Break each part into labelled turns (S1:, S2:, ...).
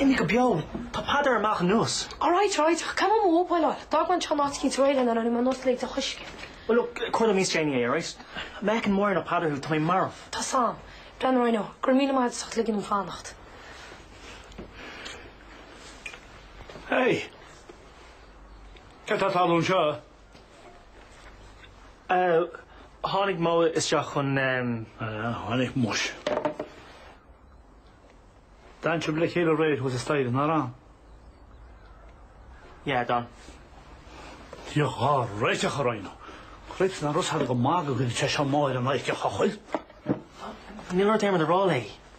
S1: Imigh go beo! Tá Peadar ar a bhealach anuas. All right, all right, ach
S2: caithfidh mé mo mhóbail a fháil. D'fhág mé an ceann áitiúil sa réilín anuraidh mar nós lae de choiscéim. Well, look, cuir le
S1: Miss Janey é, all right? Má fheiceann Máire ná Peadar thú, tá mé marbh. Tá a fhios
S2: agam. Breandán Rhino, go raibh míle maith agat as ucht ligean dom
S3: fanacht. Hey! Cad tá ag tarlú anseo?
S1: Tháinig Mo isteach chun. Tháinig
S3: muis. D'fhan sibh le chéile aréir thuas staighre, nár fhan?
S1: Yeah, d'fhan.
S3: Bhí an ceart agat, Rhino, réiteach nach raibh a fhios agat go maith go gcuirfeadh sé seo Mo ar an éisteacht, chomh chuil.
S1: Níl rud éirmid a rá léi.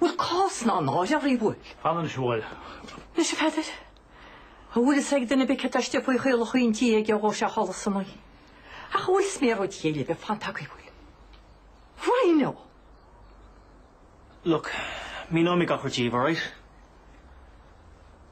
S4: Bhfuil cás ná náire oraibh? Bhfuil? An anois a
S3: bhfuil? Anois a
S4: Pheadair? An bhfuil fhios ag duine beo cé atá istigh faoi chaolacha an tí aige a dhóigh sé ina chodladh san oíche? Ach an bhfuil fhios cé mhéad oíche eile a bhí fanta agaibh? Bhfuil? Rhino!
S1: Look, míneoimid gach rud daoibh, alright?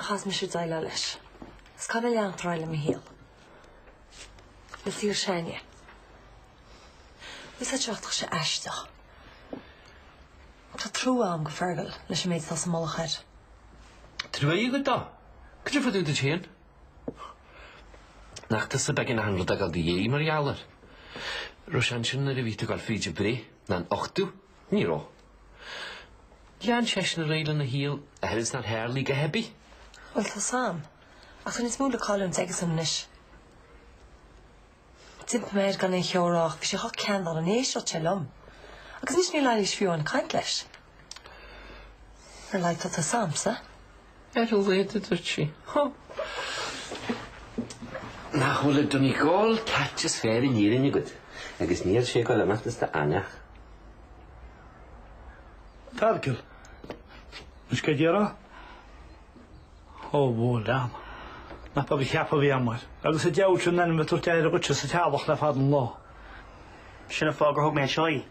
S5: Chaith mise déileáil leis. Is caithfidh mé leanacht ar aghaidh le mo shaol? Le fir Shania. Úsáid seo ach tá sé aisteach. Tá trua agam do Fheargal leis an méid atá sa mullach air.
S6: Trua agat dó? Go dtiocfadh tú duit féin. Nach tusa ab éigean rud eile a fhágáil i do dhiaidh mar gheall air? Raibh sé ansin nuair a bhí tú ag gabháil fríd an bhreith, ná an uchtú, Ní raibh. Lean seisean ar aghaidh lena shaol, amhail is nár tharlaigh a dhath ar bith. Bhuel, tá a fhios
S5: agam. Ach tá níos mó le cailliúint aigesan anois. D'impigh mé air gan aon cheo a rá, ach bhí sé chomh ceanndána, ní éisteodh sé liom. Agus anois níl Eilís fiú in ann caint leis. Ar a laghad tá tusa agamsa. Ar a
S6: laghad, a dúirt sí. Hó! Nach bhfuil an Donegal catch is fearr in Éirinn agat? Agus níl sé ag goil amach as do fhainneach.
S3: Feargal, Is cad é rá? Ó, mo léan. Nach beag an ceapadh a bhí agam air. Agus a diabhal sin an ainm ag tabhairt aire dhuitse sa teaghlach le fada an lá. Sin
S1: an fáth gur thug mé anseo í.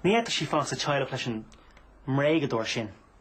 S1: Ní fhéadfadh sí fanacht sa teaghlach leis an mbréagadóir sin.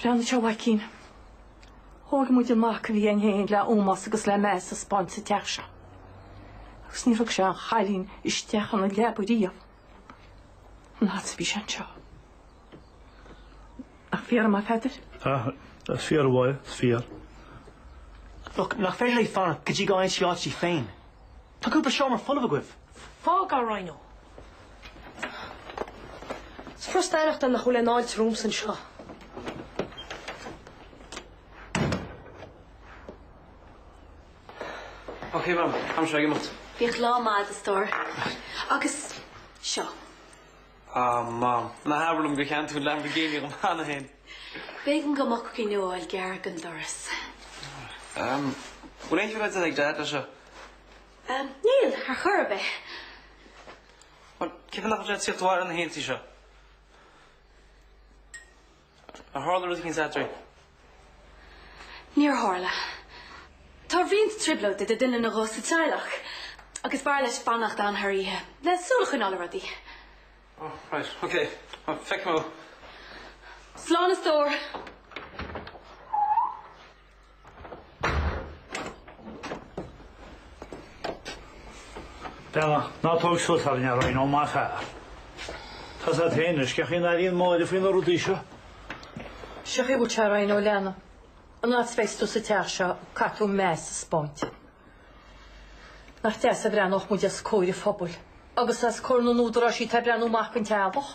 S4: Breathnaigh anseo a mhaicín. Thóg muid an mac a bhí againn fhéin le hómós agus le meas a spáint sa teach seo. Agus níor thug sé aon chailín isteach ina leaba riamh. An fhad is a bhí sé anseo. Nach fíor, a Pheadair? Aye, is fíor
S3: a bháidh, is fíor.
S1: Look, nach féidir léi fanacht go dtí go bhfaighidh sí áit di féin. Tá cúpla seomra folamh agaibh. Fág é, Rhino.
S2: Is furasta a aireachtáil nach bhfuil aon fháilte romhamsa
S6: anseo. Ok, mam, am seo ag imeacht. Bíodh lá maith agat a
S5: stór. Agus seo.
S7: Ah mam. Ná habair liom gur cheannaigh tú an Lamborghini dhom cheana féin. B'éigean
S5: dom é a choinneáil gar don doras. Ehm,
S7: bhfuil aon chuid eile ag Dad leis seo? Ehm,
S5: níl, ar
S7: chor ar bith. Bhuel, cén fáth nach bhfuil sé ag tíocht abhaile na hoícheantaí seo? Ar tharla rud éigin eadraibh?
S8: Níor tharla. Tá roinnt trioblóid idir duine nó dhó sa teaghlach agus b'fhearr leis fanacht ann thar oíche le súil a choinneáil ar rudaí.
S7: Oh, right, ok. Feicfidh
S8: mé. Slán a stór!
S3: Bella, ná tóg suas thar an earraí nó maith fear. Tá a fhios agat féin anois, cén chaoi a n-airíonn Máire faoi na rudaí seo? Sé
S4: an chaoi a bhfuil sé a Charraigh nó leanna. An fhad is a bheas tú sa teach seo, caithfidh tú meas a spáint. Nach deas a bhreathnódh muid os comhair an phobail agus os comhair na n-údarásaí atá ag breathnú amach don teaghlach?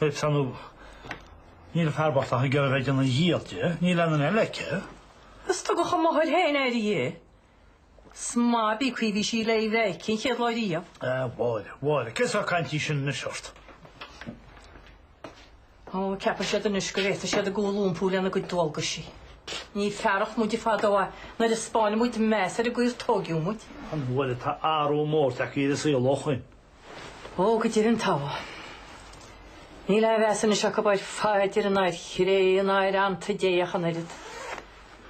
S3: Ach ar ndóigh, níl an fear bocht ach ag iarraidh a bheith ag déanamh a dhíchill di, níl aon duine eile aici. Is tugadh
S4: a máthair féin aire di. 'S má bhí caoi bhí sí le í a bheith aici an chéad lá riamh. A Mháire, Mháire,
S3: cén sórt cainte í sin anois
S4: ort? Ó, ceapann siad anois go bhféadfadh siad a gcúl a iompú lena gcuid dualgaisí. Ní fearacht muide é fadó, nuair a spáineadh muid meas ar an gcaoi ar tógadh muid. A Mháire, tá
S3: athrú mór tagtha ar an saol ó shoin. Ó
S4: go deimhin tá. Níl aon mheas anois acu ar phaidir ná ar chré, ná ar aitheanta Dé ach an oiread.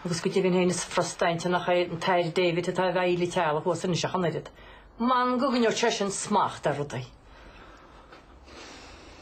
S4: Agus go deimhin féin is furasta a aithint nach é an tAthair David atá i bhfeighil an teaghlaigh thuas anois ach an oiread. M'anam go gcoinneodh sé sin smacht ar rudaí.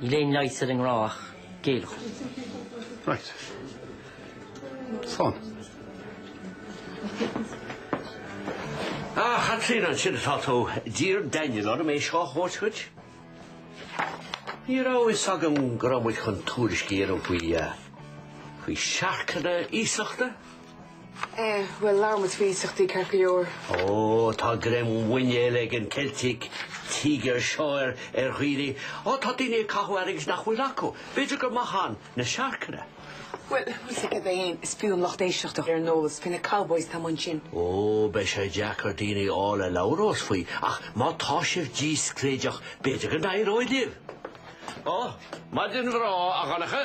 S9: Níl aon leigheas ar an ngrá ach
S10: géilleadh. Right. Fun.
S11: Ah, a Chaitríona, ansin atá tú. D'iarr Daniel orm é seo a thabhairt dhuit. Ní raibh a fhios agam go raibh muid chun tuairisc a dhéanamh faoi, faoi siorcanna iasachta.
S12: Eh, bhuel, labhair muid faoi iasachtaí ceart go leor. Ó,
S11: tá greim muiníl ag an Celtic Tiger seo ar ar dhaoine. Ó, tá daoine ag caitheamh airgid nach bhfuil acu. B'fhéidir gur maith ann na siorcanna. Bhuel,
S12: muise go deimhin, is fiú an lucht éisteachta a chur ar an eolas faoi na Cowboys atá amuigh ansin. Ó, beidh
S11: sé deacair daoine a fháil a labhrós faoi, ach má tá sibh discréideach, b'fhéidir go n-éireoidh libh. Ó, maidin bhreá, a Dhonncha.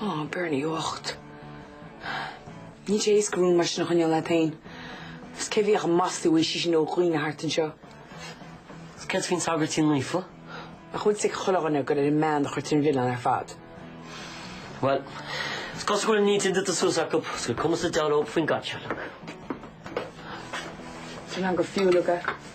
S12: Ó, Bernie bhocht. Níl sé éasca rún mar sin a choinneáil leat féin. Is cé a bhíodh ag maslú é sí sin ó dhaoine thart anseo. Is
S9: céard faoin Sagairtín Naofa? Nach bhfuil a fhios
S12: ag chuile dhuine gur ar an mbean a chuirtear an milleán ar
S9: fad? Bhuel, is cosúil go bhfuil a n-intinn déanta suas acu, is gur cuma sa diabhal leo faoin gcaitsealach.
S12: Tá an gur fiú leo.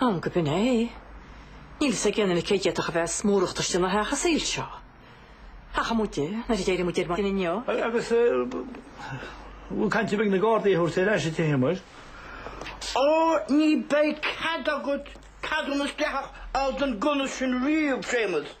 S13: Nach binn
S4: é. Níl fhios ag éinne cé d'fhéadfadh a bheith is mórachtas ina theach a Dhaid seo. Ach amuigh de, nuair a d'éirigh muid ar maidin inniu. Agus
S3: cén chaint a bheidh ag na Gardaí a thabhairt ar ais dá dtithe muid?
S13: Ó, ní beidh cead agat ceadúnas dleathach a fháil don ghunna sin riamh, a Shéamais.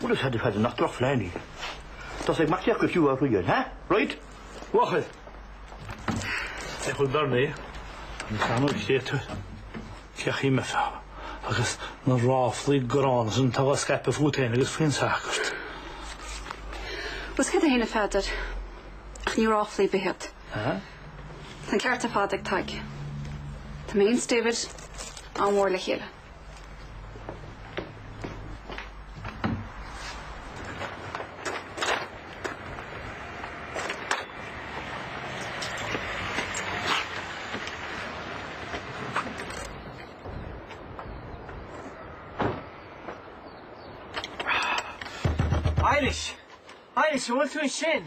S13: Bhuel, is é ard a chaith nach drochphlean í. Tá sé ag machnamh go fiú ar shuí air, ha? Right? Mhachair!
S3: Féach an bhearna é, an feannóg céadta, féach í, measa, agus na ráflaí gránna is an t-eagla scaipthe fút féin agus faoin sagart.
S8: Bhuel, is cuma é féin, a Pheadair, ach ní ráflaí ar bith iad. Ahá.
S3: Tá an
S8: ceart ar fad ag Tadhg. Tá mé féin is David an-mhór le
S1: chéile. Eilís! Eilís, bhfuil tú ansin?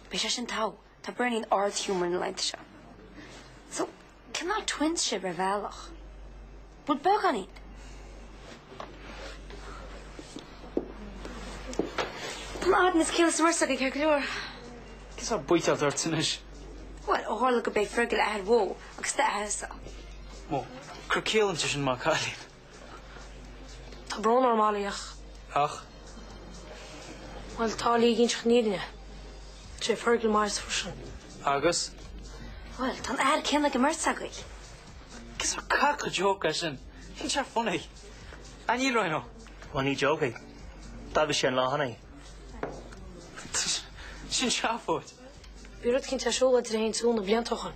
S2: Bhí sé
S8: sin togha. Tá Berni in ard-humour na laethanta seo. So, cineál twins sibh ar bhealach? Bhuel beagáinín. Tá na genes céanna sa mbeirt agaibh ceart go leor. Céard
S7: atá buailte ort anois? Bhuel, ó tharla
S8: gurb é Fergal a athair Mo agus d'athairse. Mo,
S7: cur ciall inti sin, maith an cailín?
S2: Tá brón orm Molly ach. Ach? Bhuel, tá Lee ag inseacht na fírinne. Is é Fergal m'athairse freisin. Agus?
S7: Bhuel,
S8: tá an t-athair céanna ag an mbeirt agaibh. Cén sórt
S7: cac de joke é sin? Níl sé funny. Ach níl Rhino? Bhuel, ní joke
S1: é. D'admhaigh sé an lá cheana
S7: é. Sin seafóid. Bhí rud eicínt ar
S2: siúl idir é féin is Sue na blianta ó shin.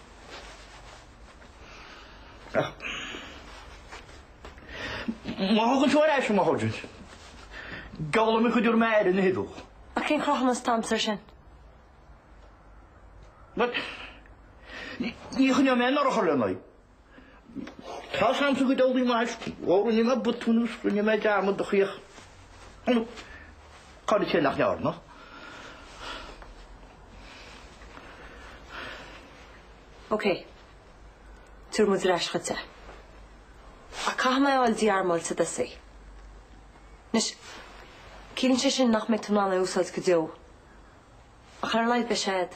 S13: Ach má thugann tú ar ais an mháthair duit, geallaim a chuid úr mear ina shuí dubh. Ach cén chruth an
S5: sponsor sin?
S13: Bhuel, ní choinneoidh mé anuraidh chor le n-aghaidh. Tá sam sa gcuid eolaí maith is mhór i ndiaidh mé botúin is rinne mé dearmad do chríoch. Cá rud é sin nach ndearna?
S5: Ok. Tabharfaidh muid ar ais dhuit é. Ach caithfidh mé é a fháil dí-armáilte i dtosach. Anois, ciallaíonn sé sin nach mbeidh tú in ann é a úsáid go deo. Ach ar a laghad beidh sé a'd.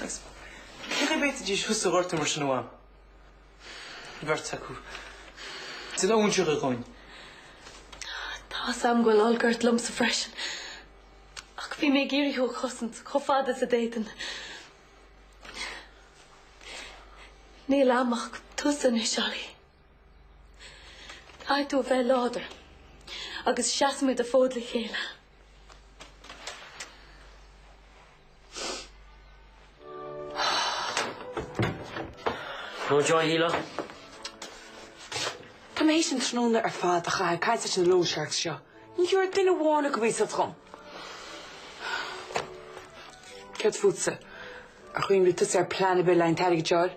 S1: Agus cé go bhféadfaidís thusa a ghortú mar sin amháin, an bheirt acu, sin a fhúintseodh i gcoin.
S2: Tá a fhios agam go bhfuil olc ort liomsa freisin, ach bhí mé ag iarraidh thú a chosaint chomh fada is a d'fhéadfainn. Níl agam ach tusa anois, Ollie. Caithfidh tú a bheith láidir agus seasfaimid an fód le chéile.
S9: No joy, Hilo?
S12: Tá mé théis an tráthnóna ar fad a chaitheamh ag caint leis na loan sharks seo. Ní thabharfadh duine amháin acu iasacht dhom. Céard fútsa? Ar chuimhnigh tusa ar phlean ar bith le an t-airgead seo a fháil?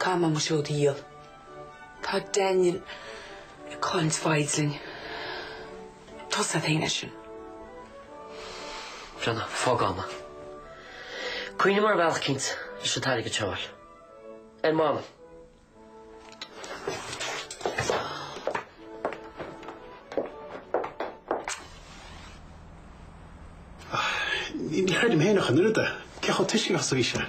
S12: Caithfidh mé mo seod a dhíol. Tá Daniel ag cailliúint foighid linn. Tusa, tá a fhios a'm. Eisean.
S9: Brenna, fág agam é. Cuimhneoidh mé ar bhealach eicínt leis an t-airgead seo a fháil. Ar m'anam.
S10: Ní chreidim féin ach an oiread é. Cé chomh tuisceanach is a bhí sé?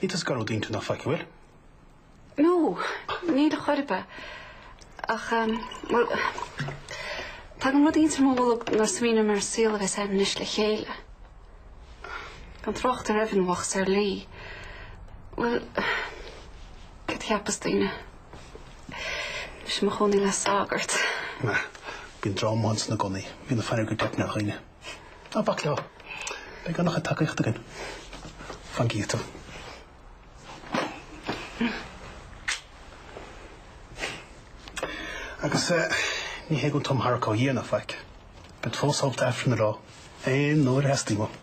S10: Níl tú ag athrú d'intinn ná faic, an bhfuil.
S4: No, níl ar chor ar bith. Ach, bhuel, tá gliondar iontach i mo bholg nuair a smaoiním ar an saol a bheas againn anois le chéile. Gan trácht ar Aoibheann bheag atá ar an slí. Bhuel, céard a cheapfas daoine? Is mé i mo chónaí le sagart. Maith.
S10: Bíonn drama ann i gcónaí. Bíonn an-fhonn ar go leor daoine. Ná bac leo. Beidh an-chuid tacaíochta againn, fan go bhfeicfidh tú. Agus ní hé go bhfuil an iomarca á dhéanamh ná faic. Bead fós ábalta Aifreann a rá, aon uair a theastaíonn uaim.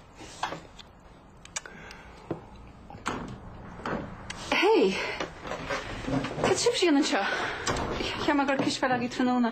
S4: Hé! Céard atá sibhse a dhéanamh anseo? Cheap mé go raibh cispheil agaibh tráthnóna.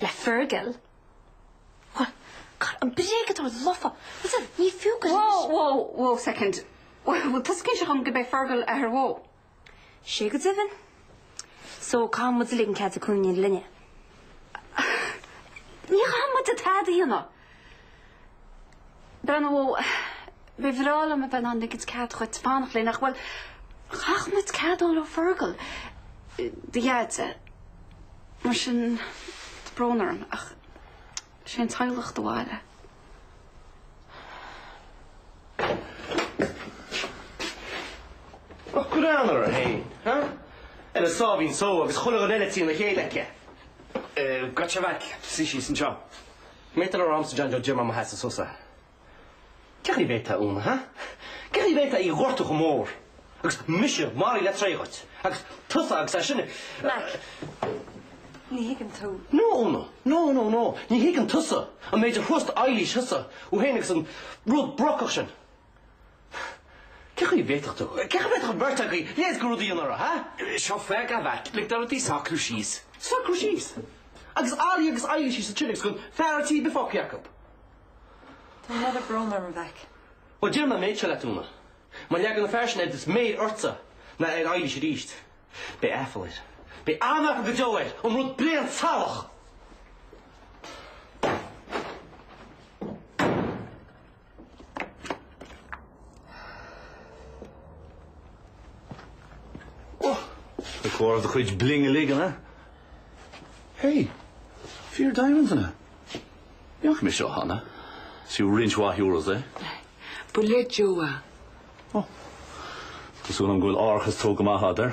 S8: Le Fergal? Bhuel, cara, an bréagadóir lofa! Bhuel sa, ní fiú go Whoa, whoa, whoa
S4: second. Bhuel, tá sé i gcónaí sa teach go mbeidh Fergal ar ais, Mo. 'Sé
S8: go deimhin. So, caithfidh muid a ligean cead di cónaí linne.
S4: Ní chaithfidh muid tada a dhéanamh. Brenna, ó, ba bhreá liom a bheith in ann ligint cead dhuit fanacht linn ach, bhuel, chaithfeadh muid cead a fháil ó Fergal, do Dhaide, mar sin, tá brón orm ach is é an teaghlach do
S7: bhaile. Ach ceann uirthi féin, ha? An asarlaíocht seo agus chuile dhuine eile trína chéile aici. Eh, goitse a mhac, suí síos anseo. B'fhéidir nach agamsa John Joe ach ag Mam agus agatsa. Cén chaoi a bhféadfá Úna, ha? Cén chaoi a bhféadfá í a ghortú chomh mór? Agus mise maraithe le treighid? Agus tusa agus é sin.
S5: Mac, ní thuigeann tú. No,
S7: Úna, no, no, no, ní thuigeann tusa an méid a thrust Eilís thusa ó shin agus an rud brocach sin. Cén chaoi a bhféadfadh tú, cén chaoi a bhféadfadh an bheirt agaibh a leithéid de rud a dhéanamh uirthi, ha? Seo Fergal a
S6: mhic, lig do rudaí socrú síos. Socrú síos?
S7: Agus Ollie agus Eilís síos sna trillsí gan fear an tí bheith fágtha acu?
S5: Tá an oiread brón orm, a mheic. Bhuel, déanfaidh mé
S7: an méid seo leat, Úna. Má leagann an fear sin oiread is méar ortsa ná ar Eilís arís. Beidh aiféala air. Beidh an-aiféala go deo air, an rud bréan salach!
S10: Ag comhaireamh do chuid bling uilig, an ea? Hey! Fíor-diamond, an ea? D'fheic mé seo cheana. Is fiú roinnt mhaith euros é. Ba le
S12: Jo é.
S10: Oh. Tá súil agam go bhfuil árachas tógtha amach agat air.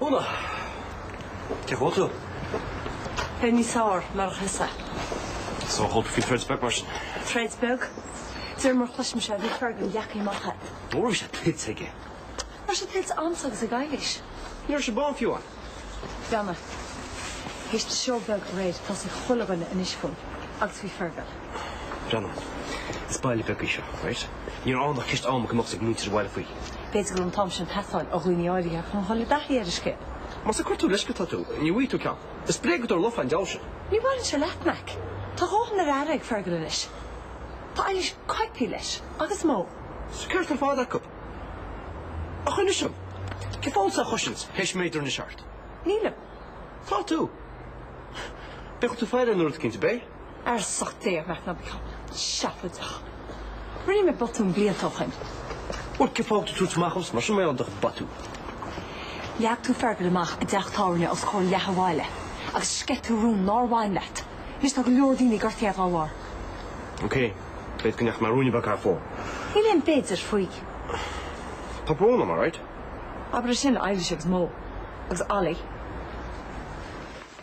S7: Úna! Cén chaoi a
S5: bhfuil tú? Beidh mé sásta, mar a cheapfá.
S7: So chuala tú faoi threads beag mar sin? Threads beag?
S5: De réir mar a chloisimse é, bhí Fergal ina dhea-Jackie Chan. Ó bhí sé tuillte
S7: aige. Ní raibh sé
S5: tuillte agamsa agus ag Eilís. Ní raibh sí beo
S7: fiú
S5: ann. Breathnaigh. Théis an seó beag aréir, tá a fhios ag chuile dhuine anois fúinn. Agus faoi Fergal.
S7: Breathnaigh. Is baile beag í seo, right? Ní raibh ann ach ceist ama go mbeadh a fhios ag muintir an bhaile faoi. B'fhéidir go raibh an t-am
S5: sin ag teastáil ó dhaoine áirithe chun dhul i dtaithí ar an scéal. Más ag cuartú
S7: leithscéal atá tú, ní bhfaighidh tú ceann. Is bréagadóir lofa an diabhal sin. Ní bhaineann sé leat,
S5: Mac. Tá a dhóthain ar aire ag Fergal anois. Tá Eilís coipthe leis, agus Mo. Is an ceart ar
S7: fad acu. A choinsias, an bhfuil do choinsias théis méadú anois ort? Nílim.
S5: Tá tú.
S7: Bíonn tú ag faire ar rud eicínt i mo bhéal? ar
S5: sop té, Mac. Ná bí chomh seafóideach. Rinne mé botún blianta ó shin. Bhuel, cé
S7: fágtar tú amach as mar sin, mar gheall ar do bhotún?
S5: Leag tú Fergal amach i dteach tábhairne os comhair leath an bhaile agus sceith tú rún nár bhain leat. Anois tá go leor daoine gortaithe dá bharr.
S7: Ok, b'fhéidir go ndeachaigh mé ruainne beag thar fóir. Níl aon
S5: b'fhéidir faoi. Tá
S7: brón orm, alright? Abair é sin
S5: le Eilís agus Mo. Agus Ollie.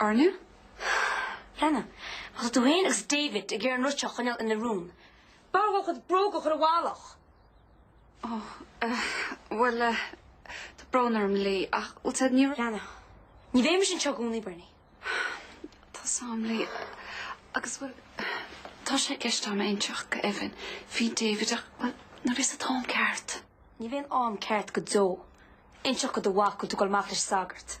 S8: Orna? Lena? Má tá tú féin agus David ag iarraidh an rud seo a choinneáil ina rún, b'fhearr dhó a chuid bróga a chur i bhfolach. Ó,
S2: eh, bhuel, eh, tá brón orm, Lee, ach bhuel sin ní raibh. Lena,
S8: Ní bheidh mise anseo i gcónaí, Bernie. Tá
S2: a fhios a'm, Lee, agus, bhuel, tá sé i gceist agam inseacht do Evan faoi David, ach, bhuel, nuair atá an t-am ceart. Ní bheidh aon am
S8: ceart go deo. Inseacht do do mhac go bhfuil tú ag dul amach leis an sagart.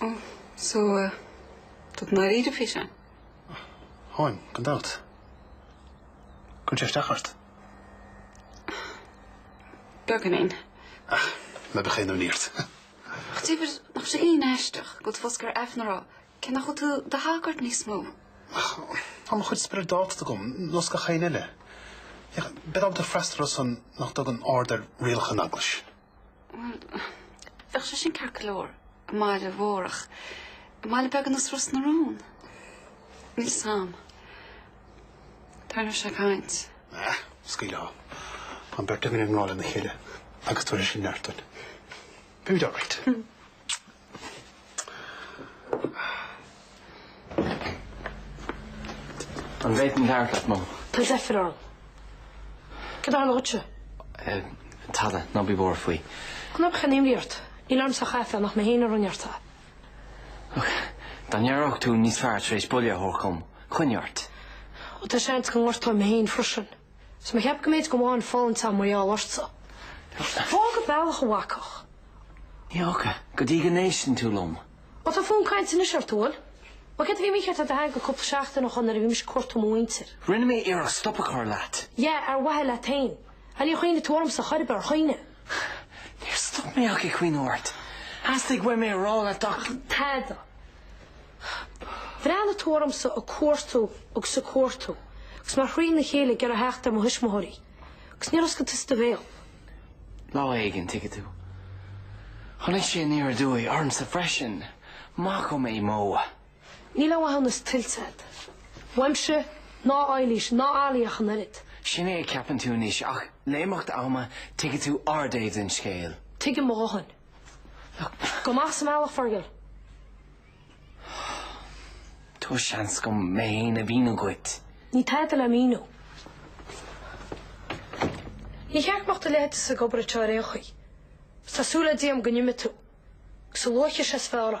S2: Oh, so tá tú dáiríre faoi sin?
S14: Táim, gan dabht. Cuireann sé isteach ort?
S2: Beagáinín. Ach,
S14: ná bíodh aon imní ort. Ach
S2: David, nach bhfuil sé cineál aisteach go bhfuil tú fós ag iarraidh aifreann a rá, cé nach bhfuil tú i do shagart níos mó. Ach,
S14: tá mo chuid spioradáltacht agam, nós gach éinne eile. Féach, bead ábalta freastal orthu san nach dtugann aird ar rialacha na hEaglaise.
S2: Bheadh sé sin ceart go leor i mbaile mhór ach i mbaile beag ar nós Ros na Rún, níl a fhios agam. Tarraingeoidh sé caint. Ah, scaoil
S14: leo. Tá an bheirt againn i ngrá lena chéile agus tabharfaidh sé sin neart dúinn. Beimid alright.
S1: An bhféadfainn labhairt leat, Mo? Tá deifir orm.
S11: Cad a tharla dhuitse? Eh,
S1: tada, ná bí buartha faoi. Ná bíodh aon
S11: imní ort. Níl ormsa ach aiféala nach mé féin a rinne ort é.
S1: Ach dá n-aireodh tú níos fearr tar éis buille a thabhairt dhom, coinnigh ort. Ó, tá
S11: seans go ngortóinn mé féin freisin. Is mé a cheapadh go mb'fhéidir go bhfuil mo dhóthain fulaingthe agam mar gheall ortsa. Fág an bealach a bhacach. Ní
S1: fhágfaidh, go dtí go n-éisteann tú liom. Ó, tá fonn cainte
S11: anois ort, an bhfuil? Mar céard a bhí mícheart le do theanga cúpla seachtain ó shin nuair a bhí mise ag cuartú mo mhuintir? Rinne mé iarracht
S1: stop a chur leat. Yeah, ar mhaithe
S11: leat féin. Á, níor chuimhnigh tú ormsa, ar chor ar bith, ar chuimhnigh? Níor
S1: stop mé ach ag cuimhneamh ort. Theastaigh uaim é a rá leat ach. Ach tada.
S11: Bhreathnaigh tú ormsa ag cuartú agus ag cuartú, agus mé trína chéile ag iarraidh theacht ar mo thuismitheoirí, agus níor oscail tusa do bhéal. Lá
S1: éigin, tuigfidh tú. Tháinig sé aniar aduaidh ormsa freisin, maith dhom é, Mo. Níl
S11: aon mhaithiúnas tuillte agat. Uaimse ná Eilís ná Ali ach an oiread. Sin é a cheapann tú
S1: anois, ach le himeacht ama tuigfidh tú ár dtaobh den scéal. Tuigim mo dhóthain.
S11: Gabh amach as mo bhealach,
S1: Fergal. Tabhair seans dom mé féin a mhíniú dhuit. Níl tada le
S11: míniú. Níor cheart go mbeadh do leithéidse ag obair anseo ar aon chaoi. Is tá súil le Dia a'm go n-imeoidh tú. Agus a luaithe is ea is fearr.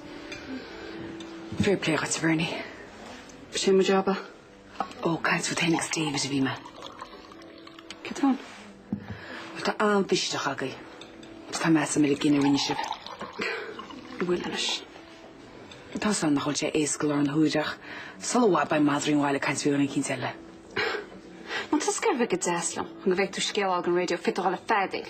S12: Fair play dhuit, Bernie.
S2: Sin mo jab, ah? Ó,
S12: caint fút fhéin agus David a bhí mé.
S2: Céard fúinn?
S12: Bhuel, tá an-mhisneach agaibh. Agus tá meas a'm ar an gcinneadh a rinne sibh.
S2: An bhfuil
S12: anois? Tá a fhios a'm nach bhfuil sé éasca i láthair na huaire ach sula i bhfad beidh madraí an bhaile ag caint faoi dhuine eicínt
S2: eile. Má tá tusa ag iarraidh a bheith go deas liom chun go bhfaighidh tú scéal dhon radio, féadfaidh tú a dhul ag feadaíl.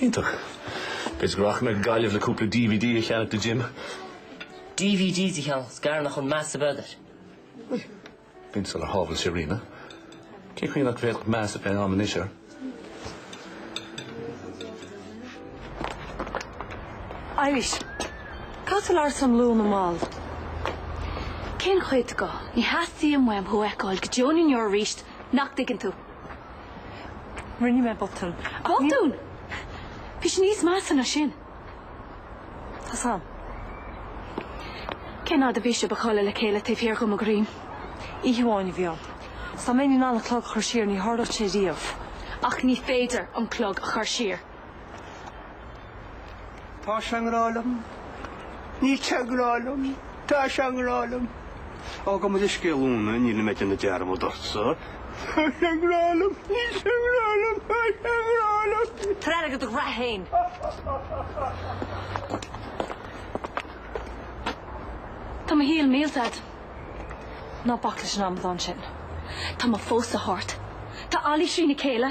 S12: Iontach.
S10: B'fhéidir go rachaidh mé go Gaillimh le cúpla dvd a cheannach do Jim.
S9: Dvdanna? Shíl mé nach raibh aon mheas agat air. Bhuel,
S10: b'in sular shábhail sé Ríona. Cén chaoi nach bhféadfadh meas a bheith a'm anois air?
S5: Arís. Caithfidh mé labhairt le Úna ar
S8: ball? Cén chuid de? Ní theastaíonn uaim thú a fheiceáil go deo ná inniu arís, nach dtuigeann tú?
S5: Rinne mé botún.
S8: Botún! Bhí sé níos measa ná
S5: sin. Tá a fhios
S8: a'm. Cén fhaid a bhí sibh ag codladh le chéile taobh thiar de mo dhroim? Oíche amháin
S5: a bhí ann. Is dá mbeinn in ann an clog a chur siar, ní tharlódh sé riamh. Ach ní
S8: féidir an clog a chur siar.
S13: Tá sé i ngrá liom. Níl sé i ngrá liom. Tá sé i ngrá liom. Á, gabh mo leithscéal Úna, níl mé ag déanamh dearmad ortsa. Tá sé i ngrá liom. Níl sé i ngrá liom. Tá sé i ngrá liom. Tabhair aire do do
S5: ghraithe
S8: féin. Tá mo shaol millte, Dad.
S5: Ná bac leis an amadán sin. Tá mo
S8: phósadh thart. Tá Ali trína chéile.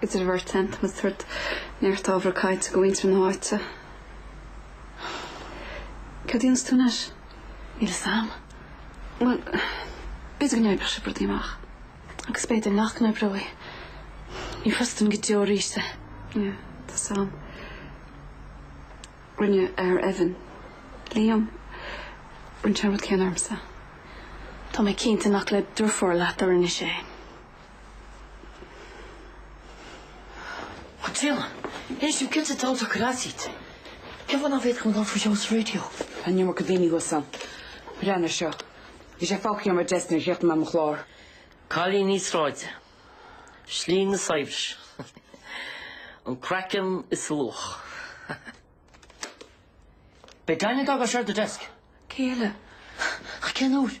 S2: Is anois ar bharr, tá mé ag tabhairt neart ábhar cainte do mhuintir na háite. Cad a dhéanfas tú anois? Níl fhios a'm. Bhuel, b'fhéidir go n-oibreoidh sibh rudaí amach. Agus b'fhéidir nach n-oibreoidh. Ní thrustfainn go deo arís é. Yeah, tá a fhios a'm. Rinne Evan, Liam, rinne sé an rud céanna ormsa. Tá mé cinnte nach le drochfhuath leat a rinne sé.
S9: Ach Diana, ní mé cinnte i dtaobh de, right. Cén fáth nach bhféadfadh mé dul ar ais go dtí an raidió? Daoine
S12: thuas ann. Breathnaigh air seo? Bhí sé fágtha ar mo dheisc nuair a chríochnaigh mé mo chlár.
S9: Cailíní sráide, slí an tsaibhris, an craiceann is a luach. B'é Diana a d'fhág é seo ar do dheisc. Cé eile?
S12: Ach
S9: cén uair?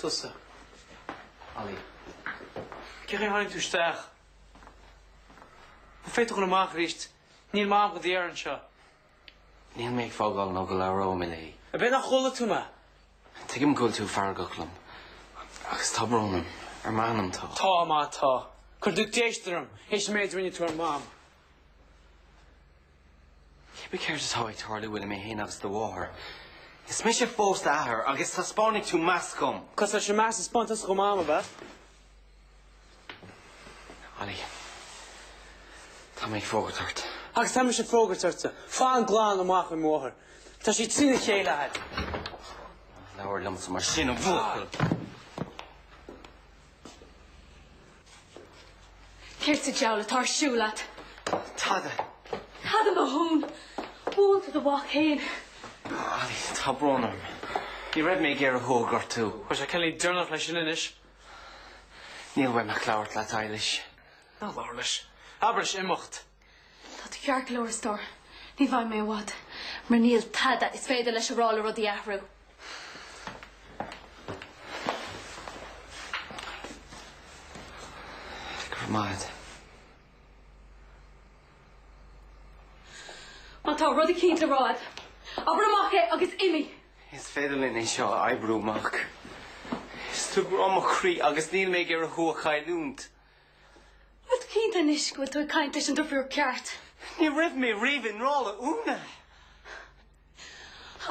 S6: Tusa, Ali. Cén chaoi a dtáinig tú isteach? An bhféadfá dul amach arís? Níl Mam do d'iarraidh anseo. Níl
S1: mé ag fágáil nó go labhróidh mé léi. Ab é nach chuala tú
S6: mé? Tuigim go bhfuil
S1: tú feargach liom. Agus tá brón orm. Ar m'anam tá. Tá má tá.
S6: Cuireann tú déistin orm. Th'éis an méid a rinne tú ar Mam.
S1: Cibé céard atá ag tarlú idir mé féin agus do mháthair? Is mise fós d'athair agus taispeánfaidh tú meas dhom. Cosúil leis an meas a
S6: spáin tusa dho Mam ab ea.
S1: Ali, tá mé ag fógairt ort. Agus tá mise ag
S6: fógairt ortsa. Fan glan amach ó mo mháthair. Tá sí trína chéile agat.
S1: Labhair liomsa mar sin, a bhuachaill.
S2: Céard sa diabhal atá ar siúl leat?
S1: Tada! Tada
S2: mo shún! Buail do mhac féin! Ailí,
S1: tá brón orm. Ní raibh mé ag iarraidh thú a ghortú. Tá sé cineál deireanach
S6: leis sin
S1: anois. Níl uaim ach labhairt leat, Eilís. Ná labhair leis.
S6: Abair leis imeacht. Tá tú
S2: ceart go leor, a stór. Ní bheidh mé i bhfad, mar níl tada is féidir leis a rá le rudaí a
S1: athrú. Go raibh
S2: maith agat. Má tá rud eicínt le rá agat, abair amach é agus imigh! Is féidir linn
S1: é seo a oibriú amach. Is tú grá mo chroí agus níl mé ag iarraidh thú a chailliúint.
S2: Bhfuil tú cinnte anois go bhfuil tú ag caint leis an deirfiúr cheart. Ní raibh
S1: mé riamh i ngrá le hÚna.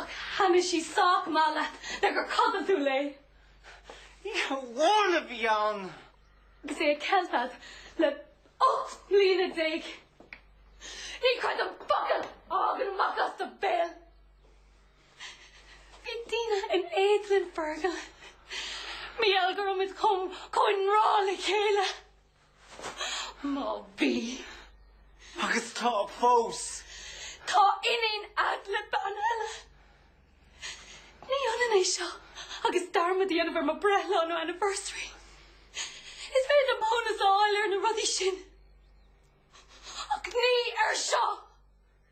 S2: Ach thaitin sí sách maith leat le gur chodail tú léi. Oíche amháin
S1: a bhí ann. Agus é
S2: ceilte a'd le ocht mbliana déag. Ní chreidim focal a thagann amach as do bhéal. Bhí daoine in éad linn, Fergal. Mar gheall go raibh muid chomh i ngrá le chéile. Má bhí. Agus
S1: tá fós. Tá
S2: iníon a'd le bean eile. Ní hionann é seo agus dearmad a dhéanamh ar mo bhreithlá nó anniversary. Is féidir liom maithiúnas a fháil ar na rudaí sin. Ach ní ar seo!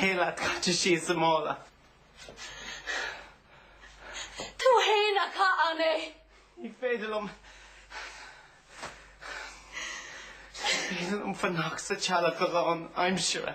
S7: Ár saol caite síos sa mhala.
S2: Tú fhéin a chaith ann é. Ní
S7: féidir liom. Ní féidir liom fanacht sa tseala go rann aimsire.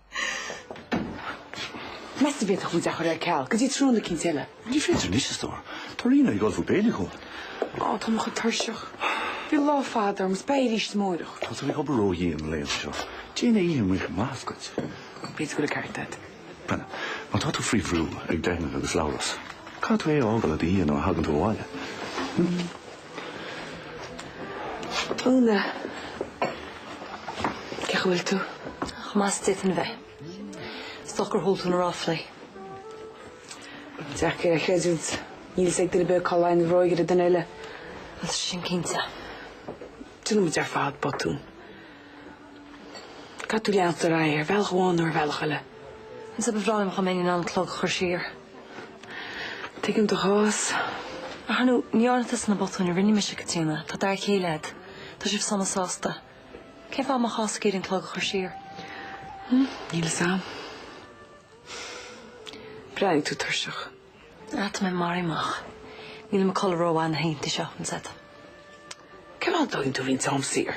S12: Meas tú an bhféadfadh muid é a chur ar ceal go dtí tráthnóna eicínt eile? Ní féidir anois, a
S10: stór. Tá Ríona ag ullmhú béile dhom. Á, tá mé
S12: chomh tuirseach. Bhí lá fada orm, is beidh arís amárach. Tá tú ag obair
S10: ródhian na laethanta seo. Déanfaidh oíche amuigh maitheas duit. B'fhéidir go bhfuil an
S12: ceart agat.
S10: Bhuel, má tá tú faoi bhrú ag Deannaic agus Labhrás, caithfidh tú é a fhágáil i do dhiaidh nuair a thagann tú abhaile.
S5: Úna, Cén chaoi a bhfuil tú? Chomh maith is d'fhéadfainn a bheith. Is dócha gur chuala tú na ráflaí.
S12: Deacair é a chreidiúint. Níl fhios ag duine ar bith cá luíonn an bhróg ar an duine eile. Bhuel, sin
S5: cinnte.
S12: Déanann muid ar fad botúin. Caithfidh tú leanacht ar aghaidh ar bhealach amháin nó ar bhealach eile. Agus ba
S5: bhreá liom go mbeinn in ann an clog a chur siar.
S12: Tuigim do chás. Ach ar
S5: ndóigh, ní dhearna tusa na botúin a rinne mise, Caitríona, tá d'fhear céile a'd. Tá sibh sona sásta. Cén fáth a mbeifeása ag iarraidh an clog a chur
S12: siar? Níl fhios a'm. Breathnaíonn tú tuirseach. Ach tá mé
S5: maraithe amach. Níl mé ag codladh rómhaith na hoícheantaí seo, an
S12: said. Cén fáth nach dtógann tú roinnt am saor?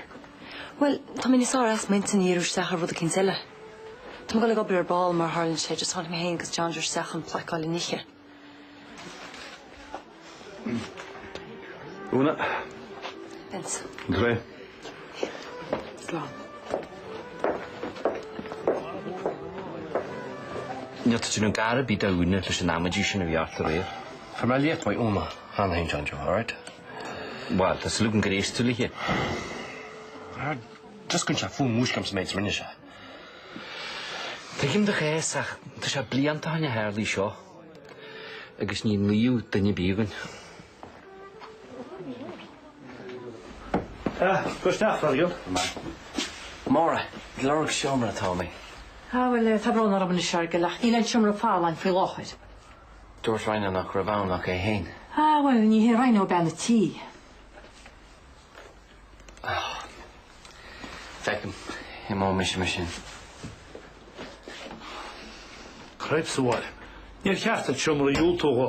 S12: Bhuel, tá
S5: mé níos fearr as m'intinn a dhíriú isteach ar rud eicínt eile. Tá mé ag goil ag obair ar ball, mar a tharlaíonn sé, just tháinig mé féin agus John Joe isteach chun plaic a fháil le n-ithe.
S10: Úna. Vince.
S5: An ghné.
S1: Níl tú trína gcara bídh dá gúna leis an amaidí sin a bhí ort aréir. From I left my own handhenge on your heart. Bhuel, tá sliogan graostúil aici. Ar dtioscain sé fúm múisc liom sa méid is rinne sé. Tuigim do chás ach tá sé blianta ó shin a tharlaigh seo agus ní naomh duine bídh againn.
S3: Ah, gabh isteach,
S1: Fergal. Máire, ag lorg seomra atá mé. Ah, bhuel,
S4: tá brón orm anois, Fergal, ach níl aon seomra ar fáil againn faoi láthair. Dúirt Rhino
S1: nach raibh ann ach é féin. Ah, bhuel, ní
S4: hé Rhino bean an tí.
S1: Ah, feicim, imeoidh mise mar sin.
S3: Creid sa bhaile, níor cheart duit seomra a dhiúltú dhó.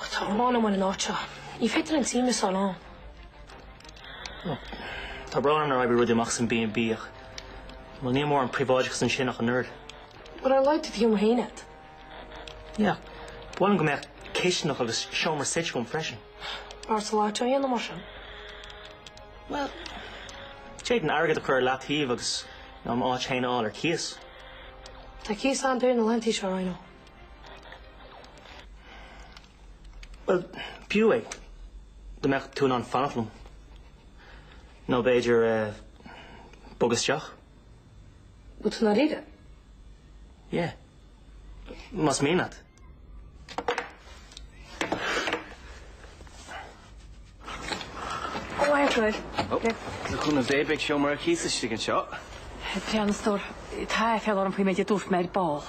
S11: Ach tá an ghráin agam ar an áit seo. Ní féidir liom suaimhneas a fháil ann.
S9: Ó, tá brón orm nár oibrigh rudaí amach san B&B ach bhuel, níl mórán príobháideachas ansin ach an oiread. B'fhearr leat
S11: do sheomra fhéin a'd. Yeah,
S9: b'fhearr liom go mbeadh cisteanach agus seomra suite agam freisin. Beidh ortsa an lotto
S11: a dhéanamh mar
S9: sin. Bhuel, d'fhéadfainn airgead a chur ar leataobh agus, you know, m'áit fhéin a fháil ar cíos. Tá
S11: cíos an-daor na laethantaí seo, I know.
S9: Bhuel, b'fhiú é dá mbeadh tú in ann fanacht liom. Nó b'fhéidir bogadh
S11: isteach. Bhfuil tú i ndáiríre?
S9: Yeah. Más mian leat.
S5: Ó, ar dóigh. Ó, le
S7: cúnamh Dé, beidh seomra ar cíos istigh anseo. Breá
S4: na stór. Tá aiféala orm faoin méid a dúirt mé ar ball.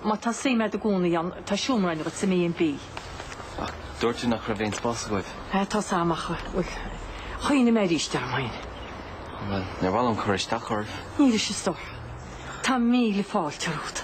S4: Má tá suim agat i gcónaí ann, tá seomra againn duit sa mB&B. Ach
S7: dúirt tú nach raibh aon spás agaibh. Sea, tá a fhios a'm,
S4: ach, bhuel, chuimhnigh mé aríst orm fhéin.
S7: Bhuel, níor mhaith liom cur isteach oraibh. Anois, a stór.
S4: Tá míle fáilte romhat.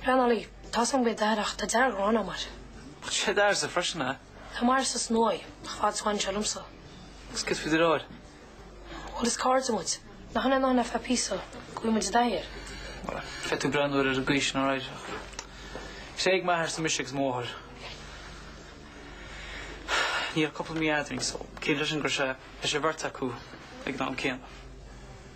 S11: Pleanálaí, Tá san gcuid oidhreacht, tá dearg-ghráin agam air. Bhfuil sé dar
S6: sa phríosún eile? Tá mar is
S11: is nuaidh, nach bhfad so anseo liomsa. Is céard faoi do
S6: reoir? Bhuel, is
S11: cairde muid. Nach ionadh nár naifeá píosa, go bhfuil muid i dtaithí air. Bhuel, bheadh
S6: tú breá nuair ar an gcaoi sin ar aghaidh. Is é ag m'athair sa mise agus m'athair. Níl ach cúpla mí eadrainn so ciallaíonn sin go raibh sé, bheadh sé bheirt acu ag an am céanna.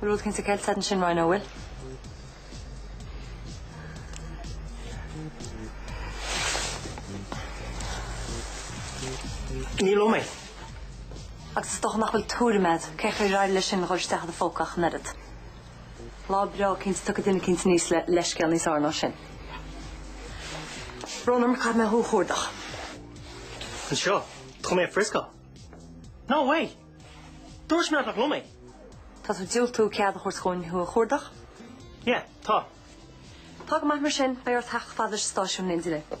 S5: Bhfuil rud eicínt ceilte a'd ansin Roy, nó
S3: bhfuil? Ní liom é.
S5: Agus is dócha nach bhfuil tuairim a'd cén chaoi ar éirigh leis sin a dhul isteach i do phóca ach an oiread. Lá breá eicínt tiocfaidh duine eicínt aníos le leithscéal níos fearr ná sin. Brón orm, caithfidh mé thú a chuardach.
S3: Anseo? Chun mé a friscáil. No way! Dúirt mé nach liom é. Tá tú
S5: ag diúltú cead a thabhairt dhúinn thú a chuardach?
S3: Yeah, tá. Tá go
S5: maith mar sin, beidh ort theacht chomh fada leis an stáisiún in éindí linn.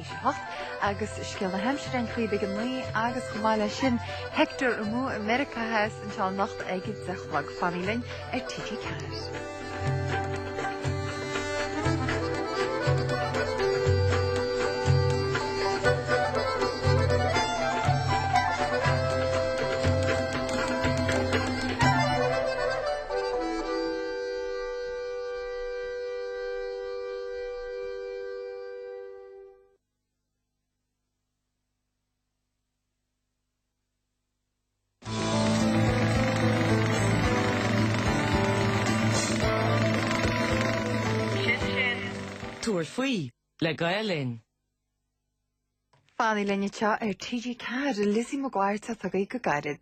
S15: 8 agus scéal na haimsire an chraoibh ag 9 agus chomh maith leis sin Hector Amú i Meiriceá Theas anseo anocht ag a 10 a chlog. Fanaigí linn ar TG4.
S9: Tabhair faoi le Gael
S15: Linn. Fanaigí linn anseo ar TG4, Lizzie McGuire atá chugaibh go gairid.